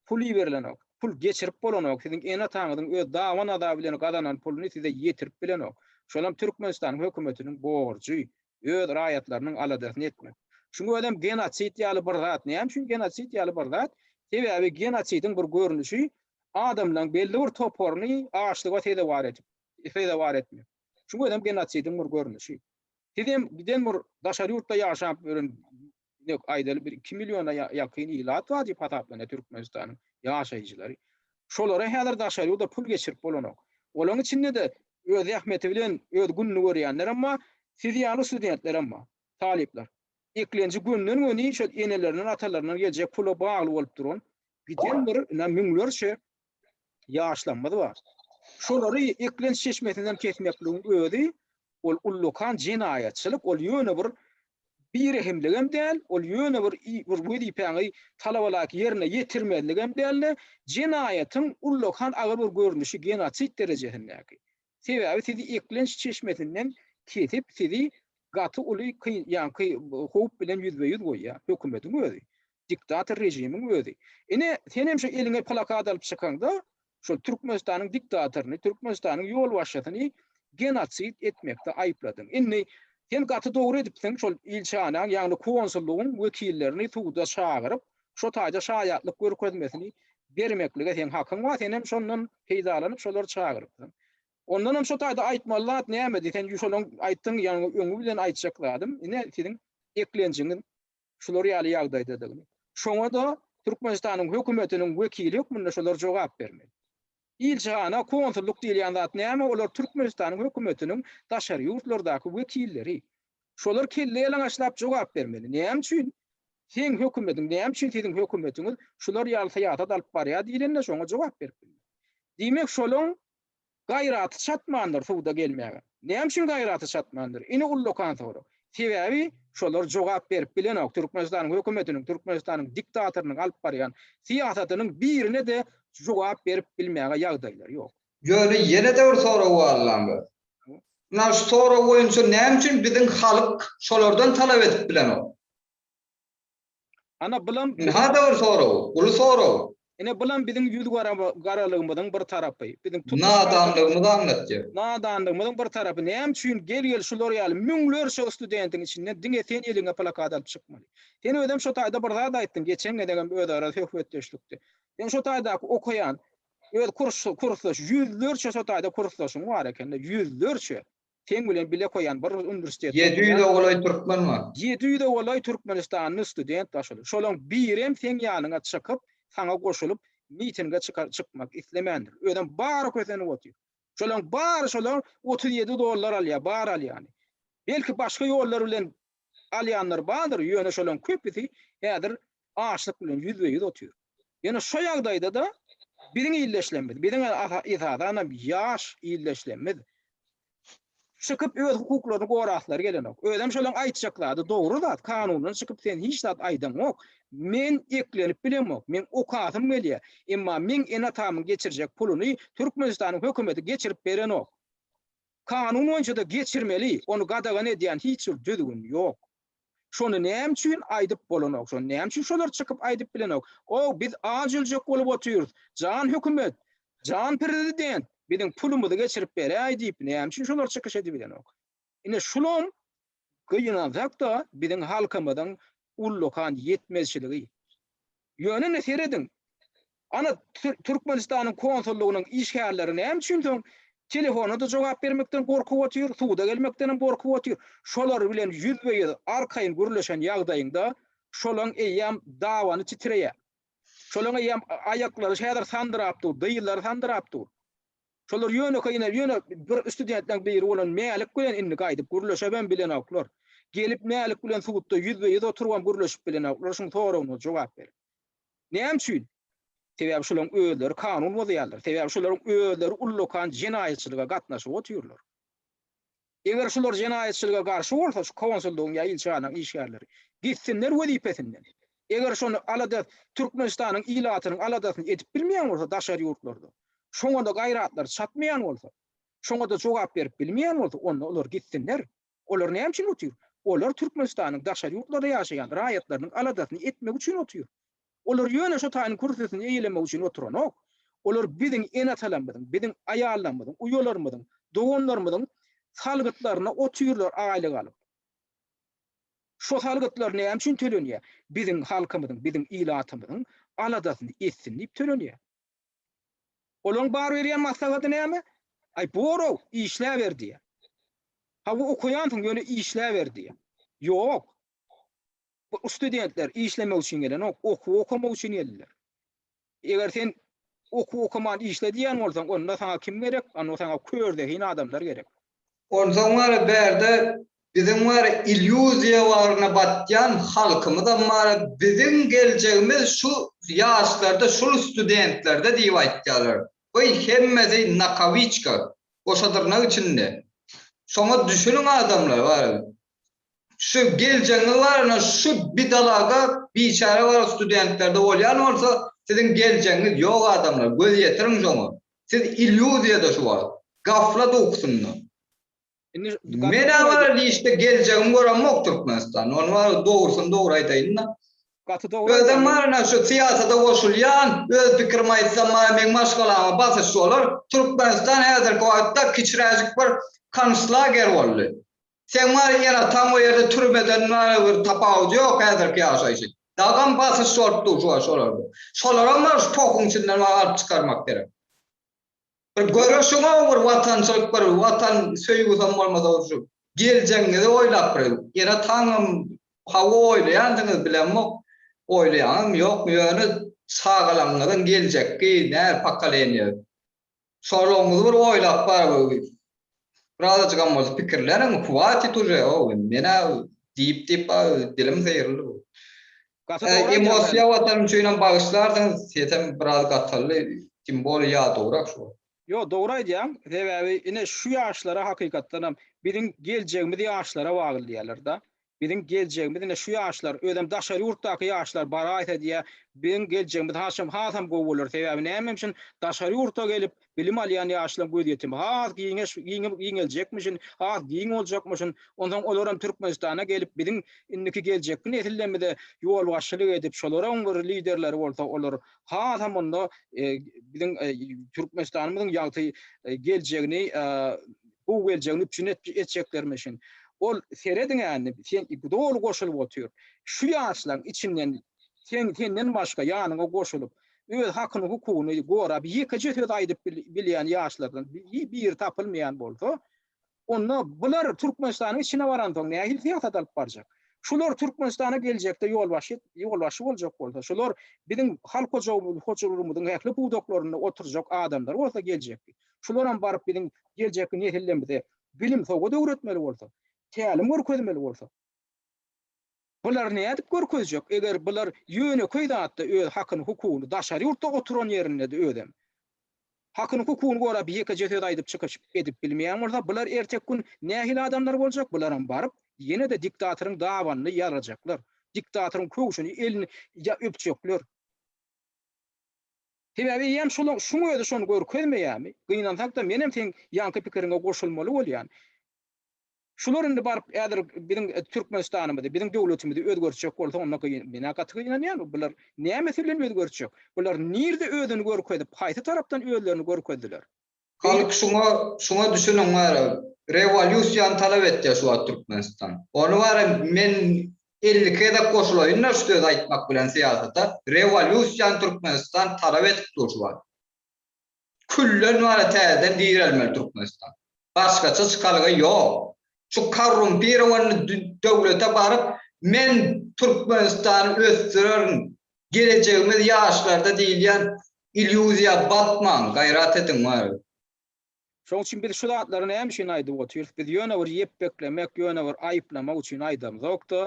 S1: pul iberilenok, pul geçirip bolanok, siziň ene-ataňyzyň öz daban-azaby bilen gazanan puluny size ýetirip bilenok. Şolam Türkmenistanyň hökümetiniň borjy. öz raýatlarynyň aladasyny etmek. Şuň özem genosid ýaly bir zat. Näme üçin genosid ýaly bir zat? Sebäbi genosidiň bir görnüşi adamlaryň belli bir toparyny açlyga sezewar edip, sezewar etmek. Şuň özem genosidiň bir görnüşi. Siz hem giden bir daşary ýurtda ýaşap ýören Ine, aýdaly bir iki milliona ýakyn ilat bar diýip hasaplanýar Türkmenistanyň ýaşaýjylary. Şolara häzir daşary ýurda pul geçirip bolanok. Olaryň içinde-de öz zähmeti bilen öz gününi görýänlerem bar, siz ýaly studentlerem bar, talyplar. Eklenji gönden-göni şol enelerinden, atalaryndan geljek pula bagly bolup duran, giden bir ine müňlerçe ýaşlarymyz bar. Şolary eklenç çeşmesinden kesmekligiň özi, ol ullakan jenaýatçylyk, ol ýöne bir birehimligem däl, ol ýöne bir bir wezipäňi talabalaýyk ýerine ýetirmezligem däl-de, jenaýatyň ullakan agyr bir görnüşi, genosid derejesindäki. Sebäbi siz eklenç çeşmesinden kesip sizi gaty uly kyn ýa ky howp bilen ýüzbe ýüz goýýar hökümediň özi diktator režimiň özi ine senem şu eliňe plakat alyp çykaňda şol türkmenistanyň diktatoryny türkmenistanyň ýolbaşçysyny genosid etmekde aýypladyň indi sen gaty dogry edipsiň şol ilçanaň ýagny konsullygyň wekillerini suda çagyryp şo taýda şaýatlyk görkezmesini bermeklige seň hakyň bar, senem şondan peýdalanyp şolary çagyrypsyň. Ondanam şo taýda aýtmaly zat nämedi? Sen şolaň aýtdyň ýaňy öňi bilen aýtjak zadym, ine siziň eklenjiňiz şular ýaly ýagdaýdadygyny. Şoňa-da Türkmenistanyň hökümetiniň wekili hökmünde şolar jogap bermeli. Ilçihana konsullyk diýilýän zat näme olar Türkmenistanyň hökümetiniň daşary ýurtlardaky wekilleri. Şolar kelle ýalaňaçlap jogap bermeli näme üçin seň hökümetiň näme üçin siziň hökümetiňiz şular ýaly syýasat alyp barýar diýlende şoňa jogap berip bilmez. Diýmek şolaň gaýraty çatmandyr suda gelmäge. Näme üçin gaýraty çatmandyr? Ine ullakan sorag. Sebäbi şolar jogap berip bilenok. Türkmenistanyň hökümetiniň, Türkmenistanyň diktatorynyň alyp barýan syýasatynyň birine-de jogap berip bilmäge ýagdaýlary ýok. Ýöne ýene-de
S2: bir sorag bar lan bir. Munag şu sorag boýunça näme üçin biziň halk şolardan talap edip bilenok? Ana bulam Indi harda bir sorag, uly sorag.
S1: Ine bulam biziň ýüz garalygymyzyň bir tarapy. Biziň tutuş Nadanlygymyzy
S2: aňlatýar. Nadanlygymyzyň bir
S1: tarapy. Näme üçin gel gel şular ýaly müňlerçe studentiň içinden diňe sen eliňe plakat alyp çykmaly. Sen özem şo taýda bir zat aýtdyň, geçen gezegem özara söhbetdeşlikde. Sen şo taýdaky okaýan öz kursdaş ýüzlerçe şo taýda kursdaşyň bar ekende, ýüzlerçe. Seň bilen bile koyan bir rus uniwersitetinde. Ýedi ýüze golaý
S2: türkmen bar. Ýedi ýüze golaý
S1: türkmenistanly student bar şol. Şolaň birem seň ýanyňa çykyp, saňa goşulyp mitinge çykar çykmak islemändir. Özem bary kösenip otyr. Şolaň bary şolar otuz ýedi dollar alýar, bary alýany. Belki başga ýollar bilen alýanlar bardyr, ýöne şolaryň köpüsi häzir açlyk bilen ýüzbe-ýüz otyr. Ýöne şu ýagdaýda-da biziň ildeşlerimiz, biziň esasanam ýaş ildeşlerimiz çykyp öz hukuklaryny goraslary gelenok. Özem şolaryň aýtjak zady dogry zat, kanundan çykyp sen hiç zat aýdaňok. Men eklenip bilemok, meň okasym gelýär. Emma meň ene-atamyň geçirjek puluny Türkmenistanyň hökümeti geçirip berenok. Kanun boýunça-da geçirmeli, ony gadagan edýän hiç bir düzgün ýok. Şony näme üçin aýdyp bolanok, şony näme üçin şolar çykyp aýdyp bilenok? Ow, biz aç öljek bolup otyrys, jan hökümet, jan prezident, biziň pulumyzy geçirip beräý diýip näme üçin şolar çykyş edibilenok? Ine şulam Gynansak-da, biziň halkymyzyň ullakan ýetmezçiligi. Ýöne indi serediň, ana, Türkmenistanyň konsullygynyň işgärleri näme üçin soň telefona-da jogap bermekden gorkup otyr, suda gelmekdenem gorkup otyr? Şolar bilen ýüzbe-ýüz, arkaýyn gürleşen ýagdaýyňda, şolaň eýýäm dabany titreýär. Şolaň eýýäm aýaklary häzir sandyrap dur, dyzlary sandyrap dur. Şolar ýönekeý ine, ýöne bir studentleň biri bolan Mälik bilen indi gaýdyp gürleşebem bilenoklar. Gelip Mälik bilen sudda ýüzbe-ýüz oturybam gürleşip bilenoklar, şuň soragyna jogap berip. Näme üçin? Sebäbi şolaryň özleri kanun bozýarlar, sebäbi şolaryň özleri ullakan jenaýatçylyga gatnaşyp otyrlar. Eger şular jenaýatçylyga garşy bolsa şu konsullygyň ýa ilçihanaň işgärleri gitsinler wezipesinden. Eger şony alada Türkmenistanyň ilatynyň aladasyny edip bilmeýän bolsa daşary ýurtlarda, şoňada gaýratlary çatmaýan bolsa, şoňada jogap berip bilmeýän bolsa onda olar gitsinler. Olar näme üçin otyr? Olar Türkmenistanyň daşary ýurtlarda ýaşaýan raýatlarynyň aladasyny etmek üçin otyr. Olar ýöne şu taýyň kürsüsini eýelemek üçin oturanok. Olar biziň ene-atalarymyzyň, biziň aýallarymyzyň, uýalarymyzyň, doganlarymyzyň salgytlaryna otyrlar aýlyk alyp. Şo salgytlar näme üçin tölenýär? Biziň halkymyzyň, biziň ilatymyzyň aladasyny etsin diýip tölenýär. Olaryň bar berýän maslahady näme? Aý, bor-ow, işläber diýýär. Hawa, okaýansyň, ýöne işläber diýýär. Ýok. Bu studentler işlemek üçin gelenok, okuw okamak üçin geldiler. Eger sen okuw okaman işle diýen bolsaň, onda saňa kim gerek? Onda saňa kör zehin adamlar gerek. Onsoň wara
S2: bärde biziň wara illýuziýa bagyryna batýan halkymyzam wara biziň geljegimiz şu ýaşlarda, şul studentlerde diýip aýtýarlar. Goý, hemmesi nakawiçka, goşadyrnak içinde. Şoňa düşüniň adamlar, wara Şu geljegiňiz barada şu bidalaga biçäre bar studentlerde bolýan bolsa siziň geljegiňiz ýok adamlar göz ýetiriň şoňa siz ilýuziýada şu wagt gaflat ukusynda. Menä bar işde geljegimi göremok Türkmenistanda ony bar dogrusyny dogry aýdaýynda. Özem barana şu syýasata goşulýan öz pikirimi aýtsam bar meň maşgalama basyş bolar Türkmenistan häzirki wagtda kiçiräjik bir konslager boldy. Seň bar enataň o ýerde türmeden bary bir tapawudy ýok häzirki ýaşaýşy. Dagam basyş bolup dur şu wagt olarda. Şolaram bar şu pohuň içinden wah alyp çykarmak gerek. Bir göreşiňow bir watançylyk bir watan söýgüsem bolmasa bir şu geljegiňizi oýlap bir enataňam hawa oýlaýandyňyz bilemok oýlaýaňyzmy ýokmy ýöne çagalaňňyzyň geljekki nä pokoleniýa Soragňyzy bir oýlap baryberi. Birazajygam bolsa pikirleniň, hwatit uje, ow, men-ä diýip-diýip baryberi dilim syryldy bu. Gaty dogry aýdýaň Emosiýa Mälik. watan üçinem bagyşlarsyňyz, sesem biraz gataldy, tim boli ýa dograk şu. Ýok, dogry aýdýaň,
S1: sebäbi ine şu ýaşlara hakykatdanam biziň geljegimiz ýaşlara bagly diýýärler-da. Biziň geljegimiz ine şu ýaşlar, özem daşary ýurtdaky ýaşlar baraýsa diýýär, biziň geljegimiz hasam hasam gowy bolar. Sebäbi näme üçin? Daşary ýurtda gelip bilim alýan ýaşlaryň gözýetimi has giňeş giňeljekmişin, has giň boljakmyşyn. Onsoň olaram Türkmenistana gelip biziň indiki geljekki nesillerimize ýolbaşçylyk edip, şolaryň bir liderleri bolsa, olar hasam onda biziň Türkmenistanymyzyň ýagty geljegini gowy geljegini üpjün etjeklerimiz üçin ol serediňä indi sen doly goşulyp otur şu ýaşlaň içinden sen senden başga ýanyňa goşulyp öz hakyny hukugyny gorap ýekeje söz aýdyp bilýän ýaşlardan biri tapylmaýan bolsa onda bular Türkmenistanyň içine baransoň nähili syýasat alyp barjak şular Türkmenistana geljekde ýolbaşy ýolbaşy boljak bolsa şular biziň halk hojagymyz hojalygymyzyň ähli pudaklarynda oturjak adamlar bolsa geljekki Şularam baryp biziň geljekki nesillerimize bilim sowgat öwretmeli bolsa, tälim görkezmeli bolsa. Bular nädip görkezjek, eger bular ýönekeý zatda öz hakyny hukugyny daşary ýurtda oturan ýerindede özem hakyny hukugyny gorap ýekeje söz aýdyp çykyş edip bilmeýän bolsa bular erteki gün nähili adamlar boljak bularam baryp ýenede diktatoryň dabanyny ýalajaklar diktatoryň köwşüni elini öpjekler. Sebäbi eýýäm şolaň şuň özi şony görkezmeýärmi? Gynansak-da menem seň ýaňky pikiriňe goşulmaly bolýan. Şular indi baryp häzir biziň Türkmenistanymyzy, biziň döwletimizi özgertjek bolsa onda gyn, menä gaty gynanýan. Bular nämesi bilen özgertjek? Bular nirde özüni görkezip, haýsy tarapdan özlerini görkezdiler? Halk şuňa
S2: şuňa düşüniň bara rewolýusiýany talap etýär şu wagt Türkmenistan. Ony bara men elli gezek goşulaýynda şu sözi aýtmak bilen syýasata rewolýusiýany Türkmenistan talap edip dur şu wagt. Külden bara täzeden direlmeli Türkmenistan. Başgaça çykalga ýok. şu korrumpirowanny döwlete baryp men Türkmenistany ösdürerin, gelejegimiz ýaşlarda diýilýän ilýuziýa batmaň, gaýrat ediň wary. Şoň
S1: üçin biz şu zatlary näme üçin aýdyp otyrys, biz ýöne bir ýepbeklemek, ýöne bir aýyplamak üçin aýdamzokda,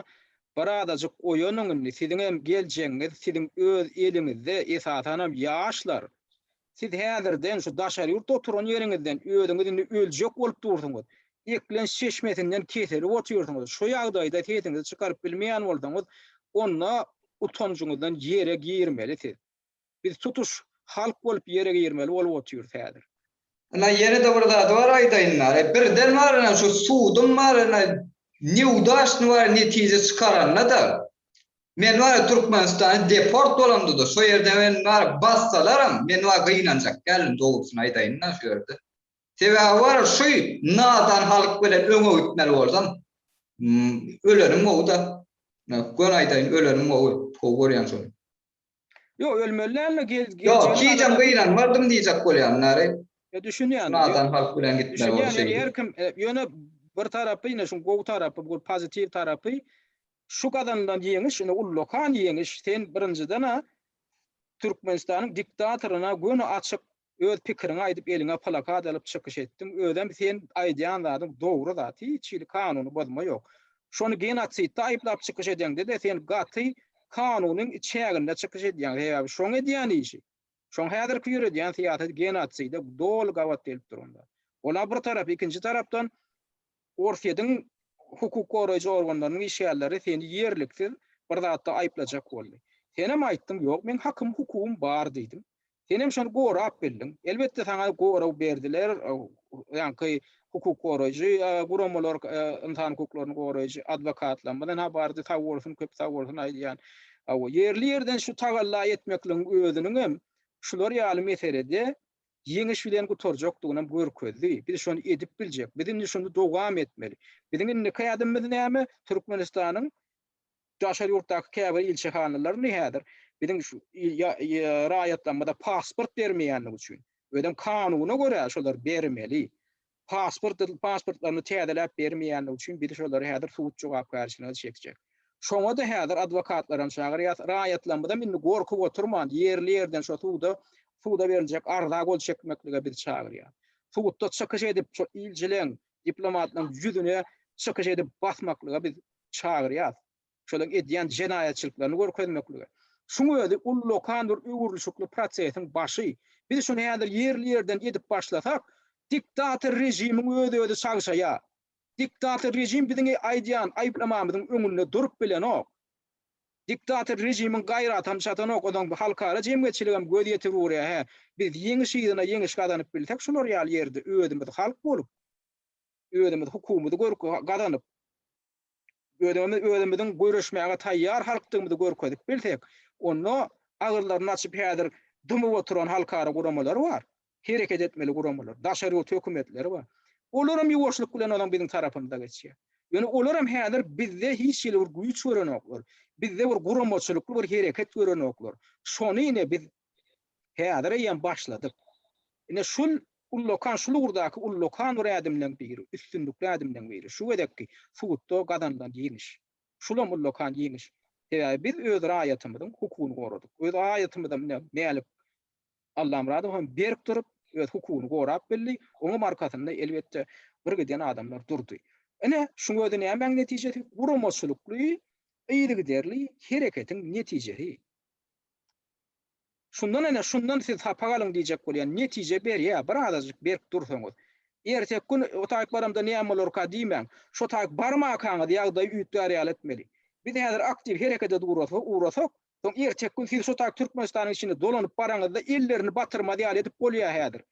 S1: birazajyk oýanyň indi, siziňem geljegiňiz siziň öz eliňizde, esasanam ýaşlar, Siz häzirden şu daşary ýurtda oturan ýeriňizden özüňiz indi öljek bolup dursuňyz. Eklenç çeşmesinden keselip otyrsyňyz. Şu ýagdaýda sesiňizi çykaryp bilmeýän bolsaňyz, onda utanjyňyzdan ýere girmeli siz. Biz tutuş halk bolup ýere girmeli bolup otyrys häzir. Ine ýene-de
S2: bir zat bar aýdaýyn bar, birden bar ine şu sudum bar ine, neudacny bar netije çykaranda-da, Men wara Türkmenistany deport bolamda-da şo ýerde meni wara bassalaram men wara gynanjak däldim dogrusyny aýdaýyn-da şu ýerde. Sebäbi wara şu nadan halk bilen öňe gitmeli bolsam ölenim gowy-da. Göni aýdaýyn ölenim gowy. Gowy görýän şony. Yo
S1: ölmeli dälme gel gel. Yo gijäm
S2: gyýlan mardym diýjek bolýan nary. Yo düşünýän.
S1: Nadan halk bilen
S2: gitmeli bolşy. Düşünýän ýer kim ýöne
S1: bir tarapy ýene şu gowy tarapy bu pozitiw tarapy şu gazanylan ýeňiş ýöne ullakan ýeňiş sen birinjiden a Türkmenistanyň diktatoryna göni açyk Öz pikiriňi aýdyp eliňe plakat alyp çykyş etdiň, özem sen aýdýan zadyň dogry zat, hiç hili kanuny bozma ýok. Şony genotsidde aýyplap çykyş edende-de sen gaty kanunyň içäginde çykyş edýäň, sebäbi şoň edýän işi, şoň häzirki ýöredýän syýasaty genotside doly gabat gelip duranda. Ol-a bir tarap, ikinji tarapdan Orsýetiň hukuk goraýjy organlarynyň işgärleri seni ýerliksiz bir zatda aýyplajak boldy. Senem aýtdyň, Ýok, meň hakym, hukugym bar diýdiň. Senem şony gorap bildiň. Elbetde, saňa gorag berdiler, ýaňky hukuk goraýjy guramalar, ynsan hukuklaryny goraýjy adwokatlarymyzdan ha bardy, sag bolsun, köp sag bolsun aýdýan. Hawa, ýerli-ýerden şu tagalla etmekligiň özüniňem şular ýaly meselede ýeňiş bilen gutarjakdygynam görkezdi. Biz şony edip biljek. Biz indi şunda dowam etmeli. Biziň indiki ädimimiz näme? Türkmenistanyň daşary ýurtdaky käbir ilçihanalaryny häzir biziň şu raýatlarymyza pasport bermeýänligi üçin, özem kanuna görä şolar bermeli. pasport pasportlaryny täzeläp bermeýänligi üçin biz şolary häzir sud jogapkärçiligine çekjek. Şoňa-da häzir adwokatlaram çagyrýas. Raýatlarymyzam indi gorkup oturman, ýerli ýerden şo suda suda beriljek arza gol çekmeklige biz çagyrýas. Sudda çykyş edip şo ilçileň, diplomatlaň ýüzüne çykyş edip basmaklyga biz çagyrýas. şolaryň edýän jenaýatçylyklaryny görkezmeklige. Şuň özi ullakan bir öwrülişikli prosesiň başy. Biz şuny häzir ýerli-ýerden edip başlasak, diktator režimiň öz-özi çagşaýar. Diktator režim biziň aýdýan aýyplamamyzyň öňünde durup bilenok. Diktator režimiň gaýratam çatanok, onuň halkara jemgyýetçiligem göz ýetirip urýar, hä, biz ýeňiş yzyna ýeňiş gazanyp bilsek, şular ýaly ýerde özümiz halk bolup, özümiz hukumyzy gazanyp, özümiz özümiziň göreşmäge taýýar halkdygymyzy görkezip bilsek, onda agyzlaryny açyp häzir dymyp oturan halkara guramalar bar, hereket etmeli guramalar, daşary ýurt hökümetleri bar. Olaram ýuwaşlyk bilen onuň biziň tarapymyza geçýär. Ýöne olaram häzir bizde hiç hili bir güýç görenoklar, bizde bir guramaçylykly bir hereket görenoklar. Şony ine biz Häzir eýýäm başladyk. Ine şul ullakan, şul ugurdaky ullakan bir ädimleň biri, üstünlikli ädimleň biri, şu gezekki sudda gazanylan ýeňiş. Şulam ullakan ýeňiş. Sebäbi biz öz raýatymyzyň hukugyny goradyk. Öz raýatymyzam ine Mälik Allamyradowam berk durup, öz hukugyny gorap bildi. Oňam arkasynda elbetde birgiden adamlar durdy. Ine şuň özi nämäň netijesi? Guramaçylykly, yzygiderli hereketiň netijesi. Şundan ene şundan siz sapak alyň diýjek bolýan netije berýä bir azajyk berk dursaňyz. Erteki gün o taýyk baramda näme bolarka diýmäň. Şo taýyk barmakaňyz ýagdaýy üýtgär ýaly etmeli. Biz häzir aktiw herekede durasa ugrasak soň erteki gün siz şo taýyk Türkmenistanyň içinde dolanyp baraňyzda ellerini batyrmaz ýaly edip bolýa häzir.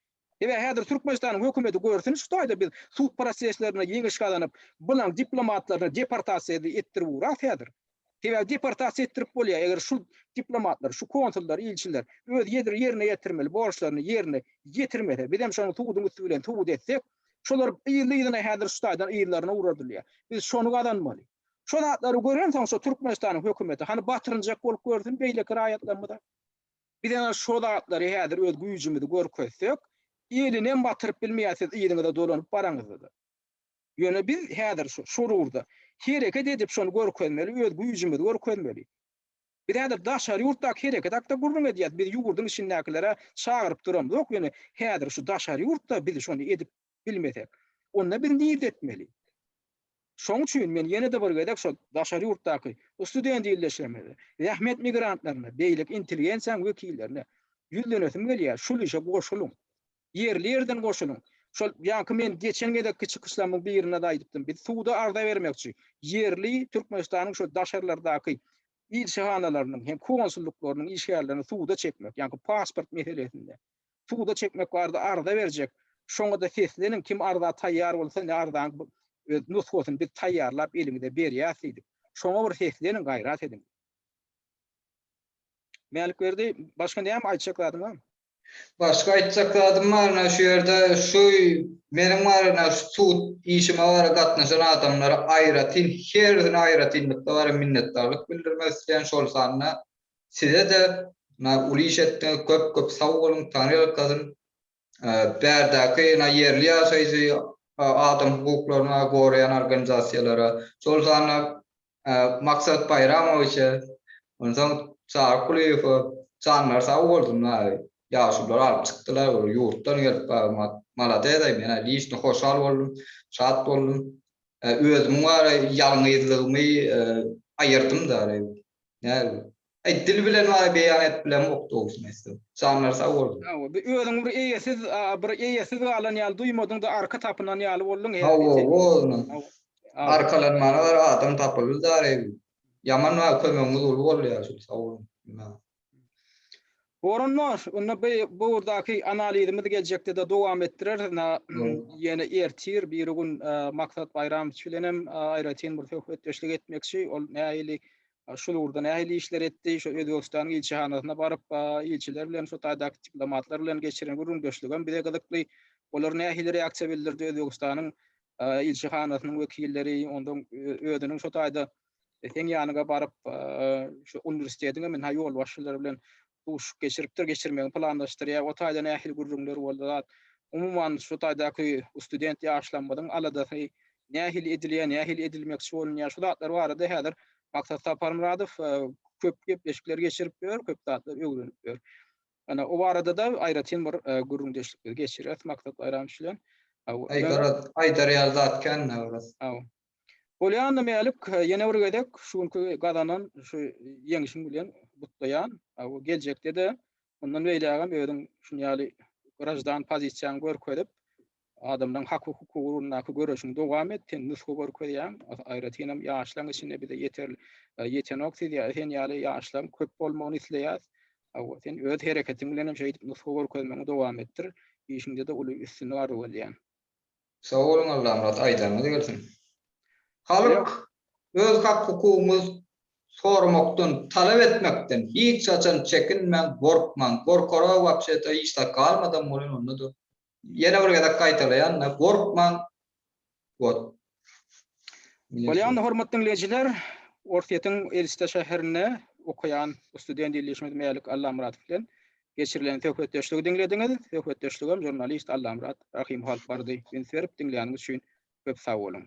S1: Ebe häzir Türkmenistanyň hökümeti görsün şu taýda biz sud proseslerinde ýeňiş gazanyp bulan diplomatlaryny deportasiýa etdirip uras häzir. Sebäbi deportasiýa etdirip bolýar eger şu diplomatlar, şu konsullar, ilçiler öz ýerine ýetirmeli borçlaryny ýerine ýetirmese bizem şony suduň üsti bilen subut etsek şolar yzly yzyna häzir şu taýdan yzlaryna uradylýar. Biz şony gazanmaly. Şu zatlary görensoň şu Türkmenistanyň hökümeti hany batyrynjak bolup görsün beýleki raýatlarymyza. Biz ana şo zatlary häzir öz güýjümizi görkezsek, elinem batyryp bilmeýär siz yzyňyza dolanyp baraňyzda. Ýöne biz häzir şu, şol ugurda hereket edip şony görkezmeli, öz güýjümizi görkezmeli. Biz häzir daşary ýurtdaky hereket hakda gürrüň edýäs, biz ýurduň içindäkileri çagyryp duramzok, ýöne häzir şu daşary ýurtda biz şony edip bilmesek, onda biz nirde etmeli? Şoň üçin men ýene-de bir gezek şo daşary ýurtdaky student ildeşlerimize, zähmet migrantlaryna, beýleki intelligensiýanyň wekillerine ýüzlenesim gelýär, şul işe goşulyň. Ýerli-ýerden goşulyň. Şol ýaňky men geçen gezekki çykyşlarymyň birinde-de aýdypdym, biz suda arza bermekçi, ýerli Türkmenistanyň şo daşarylardaky ilçihanalarynyň hem konsullyklarynyň işgärlerini suda çekmek, ýaňky pasport meselesinde. Suda çekmek barada arza berjek. Şoňada sesleniň kim arza taýýar bolsa ne arzaň öz nusgasyny biz taýýarlap eliňize berýäs diýdik. Şoňa bir sesleniň gaýrat ediň. Mälikberdi başga näme aýtjak zadyň barmy? Başga
S2: aýtjak zadym barmy şu ýerde şu meniň barada şu sud işime barada gatnaşan adamlara aýratyn hersine aýratynlykda barada minnetdarlyk bildirmek isleýän şol sanda Sizede na uly iş etdiňiz köp köp sag boluň Taňry ýalkasyn bärdäki na ýerli ýaşaýjy adam hukuklaryna goraýan organizasiýalara şol sanda Maksat Baýramowiçe onsoň Çary Kulyýewe janlary sag bolsun maý ýaşululary alyp çykdylar olar ýurtdan gelip malades aý men liçno hoşal boldum şat boldum özümiň bar ýalňyzlygymy aýyrdym da Nädip? Aý dil bilen maňa beýan edip bilemok dogrusyny aýtsam. Janlar sag bolsun. Hawa bir özüňi bir eýesiz
S1: bir eýesiz galan ýaly duýmadyňda arka tapynan ýaly bolduň her Hawa nirde. hawa ynha Hawa.
S2: arkalanmana gara adam tapyldy dary. Ýaman maňa kömegiňiz uly bolýar şul sag boluň.
S1: Orunly, onda bu bu ugurdaky analizimizi geljekde-de dowam etdireris. Ina, ýene ertir biri gün e, Maksat Baýramowiç bilen hem e, aýratyn bir söhbetdeşlik etmekçi. Ol nähili e, şul ugurda nähili işler etdi, şu Özbegistanyň ilçihanasyna baryp, e, ilçiler bilen, şu taýdaky diplomatlar bilen geçiren gürrüňdeşligem bize gyzykly. Olar nähili reaksiýa bildirdi Özbegistanyň e, ilçihanasynyň wekilleri, ondan e, özüniň şu taýda e, seň ýanyňa baryp, e, şu uniwersitetiň hem ha ýolbaşçylary bilen duşup geçiripdir, geçirmegi planlaşdyrýar. O taýda nähili gürrüňler boldy zat. Umuman şu taýdaky student ýaşlarymyzyň aladasy nähili edilýär, nähili edilmekçi bolunýar. Şu zatlar barada häzir Maksat Saparmyradow e, köp gepleşikler geçirip ýör, köp zatlar öwrenip ýör. Ana o barada da aýratyn bir e, gürrüňdeşlikleri geçirýäris Maksat Baýramow bilen. Aý, garaz,
S2: aýdar ýaly zat kän, garaz. Aw. Bolýanda
S1: Mälik ýene bir gezek şu günki gazanan şu ýeňşiň bilen gutlaýan. Aw geljekde-de mundan beýlägem özüň şun ýaly graždan pozisiýaňy görkezip, adamlaryň hak-hukuky ugrundaky göreşiňi dowam et. Sen nusga görkezýäň. Aýratynam ýaşlaň içinde bize ýeter ýetenok siz ýa sen ýaly ýaşlaň köp bolmagyny isleýäs. Aw sen öz hereketiň bilenem şeýdip nusga görkezmegiňi dowam etdir. Işiňde-de uly üstünlik arzuw edýän. Sag
S2: boluň Allamyrat aýdanyňyz gelsin. Halk öz hak hukugyňy soramakdan talap etmekden hiç haçan çekinmäň gorkmaň gorkara wapşeta hiç zat galmadam bolýan ondada ýene bir gezek gaýtalaýanda gorkmaň wot.
S1: Bolýa onda hormatly diňleýjiler Orsýetiň Elsta şäherinde okaýan student ildeşimiz Mälik Allamyradow bilen Geçirilen söhbetdeşligi diňlediňiz. Söhbetdeşligem žurnalist Allamyrat Rahymyhalk bardy. Üns berip diňläniňiz üçin köp sag boluň.